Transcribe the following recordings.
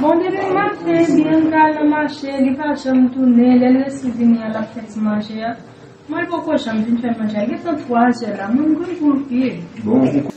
Bon depi maten Bianca al nan mache li pa janm tounen lèl resi vini an lap fè ti manje a mwen poko janm vin fè manje a gentan 3 zè la mwen gou anpil.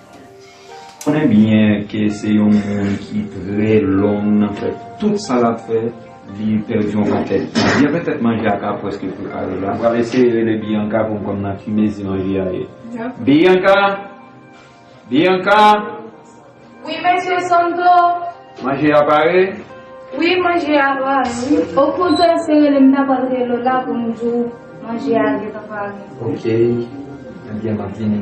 Konnen byen ke se yon moun ki trè long nan fè tout sa lap fè, li pèdi yon pakèt tan. Byen fè tèt manje a ka prèske prepare la. M pral eseye rele Bianca pou m konn nan ki mezi manje a ye. Bianca! Bianca! Wi Mesye Santo! Manje a pare? Wi manje a pare wi. Ou konn tou eseye le m ta pral rele w la pou m di w manje a gentan pare. Ok. Ebyen map vini.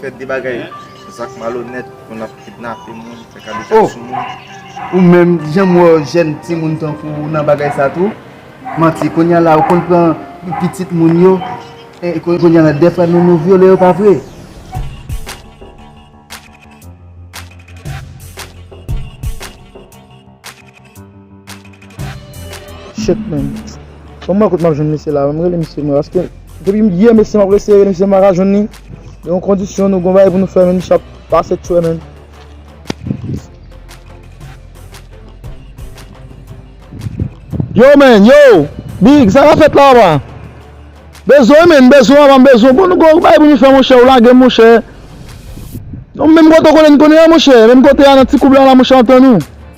Fè de bagay zak malonèt pou nap kidnape moun, fè kadejak sou moun. Oh! Ou menm, janm wè w jèn timoun tankou w nan bagay sa tou? Manti, kounya la ou konn pran pitit moun yo, kounya la dèfwa nou nou vyole yo pa vre? Shit man. Bon mwen kote map jwenn mesye la. Mwen rele mesye mwen paske depi yè mesye map rese rele mesye mwen pa jwenn ni. Gen yon kondisyon nou gon bagay pou nou fè men misye ap pase tchwè men. Yo men, yo! Big, sa ka fèt la apa? Bezwen men, bezwen apa, m bezwen. Bon nou gon bagay pou nou fè monchè, ou lage m monchè. Non menm kote ou konnen n konnen an monchè, menm kote a nan ti koub la la monchè antan nou.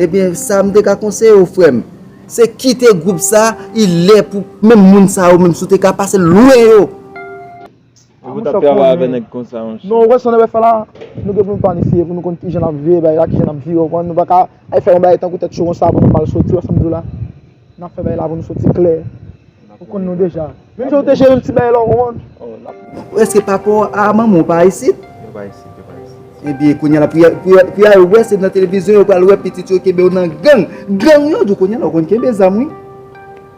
Ebyen sa m te ka konseye w frè m se kite gwoup sa i lè pou menm moun sa yo menm si w te ka pase lwen yo. Ou pa tap travay avè nèg konsa monchè. Non ou wè sa nèg ap fè la nou gen pou nou planifye pou nou konn kijan nap veye bagay la kijan nap viv ou konprann nou paka al fè yon bagay tankou tèt cho konsa apre nou pa al soti ou wè sa m di w la. Nap fè bagay la pou nou soti klè. Ou konn nou deja. Menm jan ou te jere yon ti bagay la ou konprann. Ou eske papa w a manman w pa isit? Yo pa isit, yo pa isit. Ebyen kounya la pou ya pou ya wè se nan televizyon yo pral wè pitit yo kenbe yo nan gang. Gang yo di w kounya la ou konn kenbe zam wi.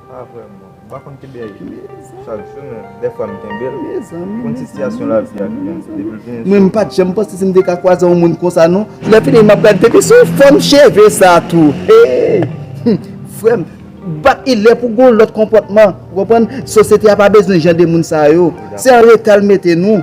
Pa vrèman. M pa konn kenbe anyen. Chak jou men dèfwa m kenbe l. Pou n sitiyasyon lavi a ki gen depi l vin sou m. Mwen m pat janm panse si m te ka kwaze yon moun konsa non. Lè fini m ap gad depi sou fòm cheve sa tou hey humm frè m bat ilè pou gon lòt konpòtman ou konprann sosyete a pa bezwen jan de moun sa yo se an reta l mete nou.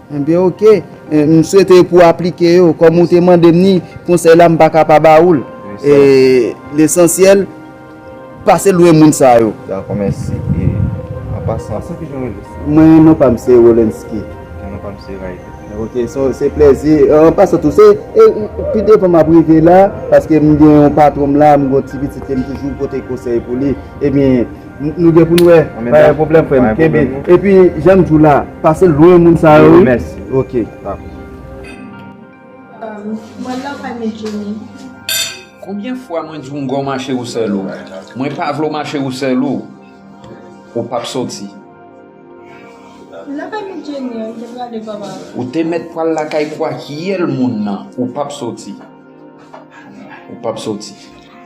Enbyen ok, m swete pou w aplike yo, kòm ou te mande m ni, konsèy la m pa ka pa ba ou l. Lesansyèl, pase lwen moun sa yo. Dakò, mèsi. E, an pasan, se kijan w rele sou? Mwen, non pa m se Wolenski. Ok, non pa m se Rayli. Ok, se plezi. An pasan tou, se, pi devan m ap rive la, paske m gen yon patwon m la, m gen yon ti pitit ke m toujou pote konsèy pou li. Ebyen. Nou gen pou nou wè. Pa gen pwoblèm frè m. Kenbe. Epi jan m di w la, pase lwen moun sa yo wi. Mèsi. Ok. Mwen love anne Djenie. Konbyen fwa mwen di w m gò mache ou sèl ou? Mwen pa vle w mache ou sèl ou. Ou pap soti. Love anne Djenie, m te prale papa. Ou te mèt pwal lakay kwakyèl moun nan. Ou pap soti. Ou pap soti.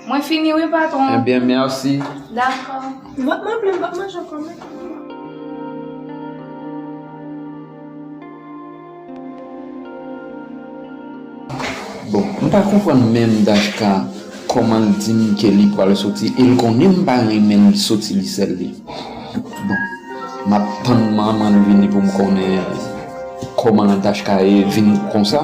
Mwen fini wi patron. Eh bien, merci. D'accord. Vot mwen plim, vot mwen jan konmen. Bon, m pa konprann menm Dajka kòman l di m ke li pral soti e l konnen m pa renmen l soti li sèl li. Bon, m ap tann manman l vini pou m konnen kòman Dajka ye vin konsa.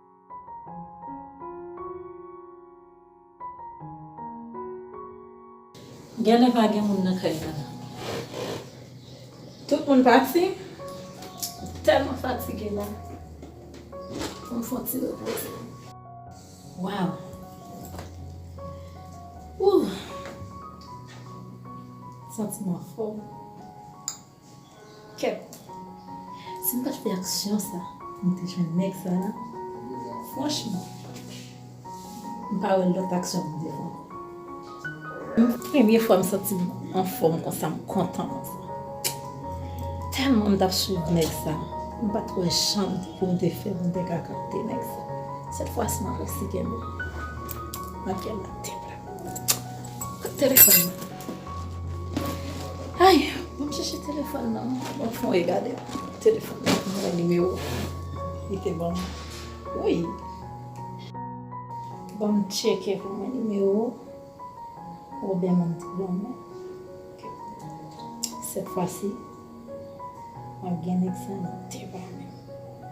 Genlè pa gen moun nan kay la. Tout moun pati? M tèlman fatige la. Fò m fon ti repoze. Waw! Ooh! Santiman fò. Kèt. Si m pat fè aksyon sa m te jwenn nèg sa la franchman m pa wè lòt aksyon pou m te fè ankò. Premye fwa m santi m anfòm konsa m kontan konsa. Tèlman m tap swiv nèg sa m pat wè jan pou m te fè pou m te ka kapte nèg sa. Sèt fwa si m resi kenbe l. Nan kè m la. Kot telefòn nan? Ay! Bon m chèche telefòn nan. Bon fon e gade telefòn nan. M wè nimewo li te ban m. Wi! Bon m tcheke pou m wè nimewo Woben an te ban mwen. Sèt fwa si, m ap gen nèg sa nan tè pa mwen.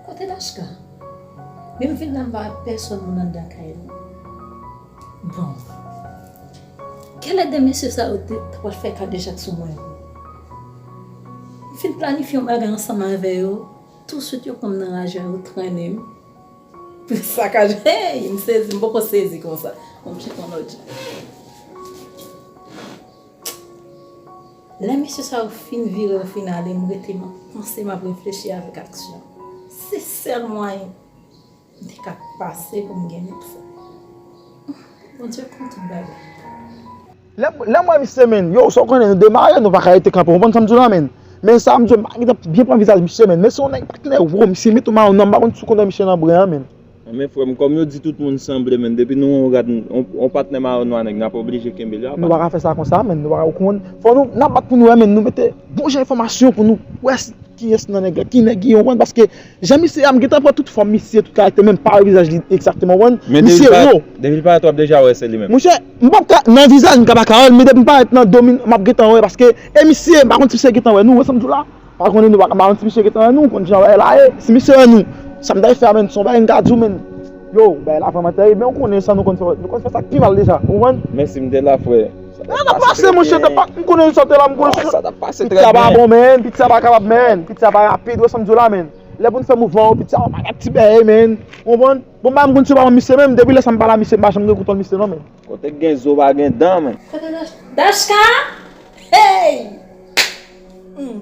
Kote Dashka? Men m vin la m pa wè pèsòn moun anndan kay la. Bon. Kèlè 2 mesye sa yo te ta pral fè kadejak sou mwen vre? M fin planifye yon bagay ansanm avè yo, tousuit yo pran m nan raja yo trennen m pou yo sakaje m. Hey! M sezi, m poko sezi konsa. Bon m chita yon lòt jan. Lè mesye sa yo fin vire yo fin ale, m rete m ap panse, m ap reflechi avèk aksyon. Se sèl mwayen M te ka pase pou m gen met fò. Bondye konn tout bagay. Lè m wè misye menn, yow sa w konnen nou demare nou pa ka rete kanpe w konprann sa m di w la menn. Men sa m di w m pa gentan byen pran vizaj misye menn men se yon nèg pa knen wo misye met yon mayo nan m pa konn si w konnen misye nan bren an menn. Men frè m kòm yo di tout moun sanble menn depi nou wè yon rad yon patnè mayo nwa nèg n ap oblije kenbe l yo apa. Nou pa ka fè sa konsa menn nou pa ka ou konn fò nou n ap bat pou nou wè menn nou mete bon jan enfòmasyon pou nou wè kiyès nan nèg la ki nèg li w konprann paske Jan misye a m gentan pran tout fòm misye tout karaktè menm pa wè vizaj li egzakteman ou konprann Men depi misye ro. depi l parèt wap deja wè se li menm. Monchè m pap ka nan vizaj m ka paka wèl men depi m parèt nan do min map gentan wè paske e misye m pa konn si misye gentan wè nou wè sam di w la pa konnen nou m pa konn si misye gentan wè nou konn jan bagay la ye si misye wè nou sa m ta ye fè a menn son bagay m ka di w menn. Yo, bagay la vreman terib men ou konnen sa nou konn fè, nou konn fè sa k pi mal deja, ou konprann? Men si m te la frè, sa t ap pase trè byen. Sa t ap pase mon chè, m konnen sa w te la, m konnen sa. Sa t ap pase trè byen. Piti a pa bon menn, piti a pa kapab menn, piti a pa rapid, ou wè sa m di w la menn. Lè pou n fè mouvman yo, piti a pa yon ti bèy menn, ou konprann? Bon m pa menm konn si yo pa pran misye menm, depi lè sa m pa la misye m pa janm gen kontwòl misye non menn. Kote k gen zo pa gen dan menn. Kote Dachka? Hey! Humm!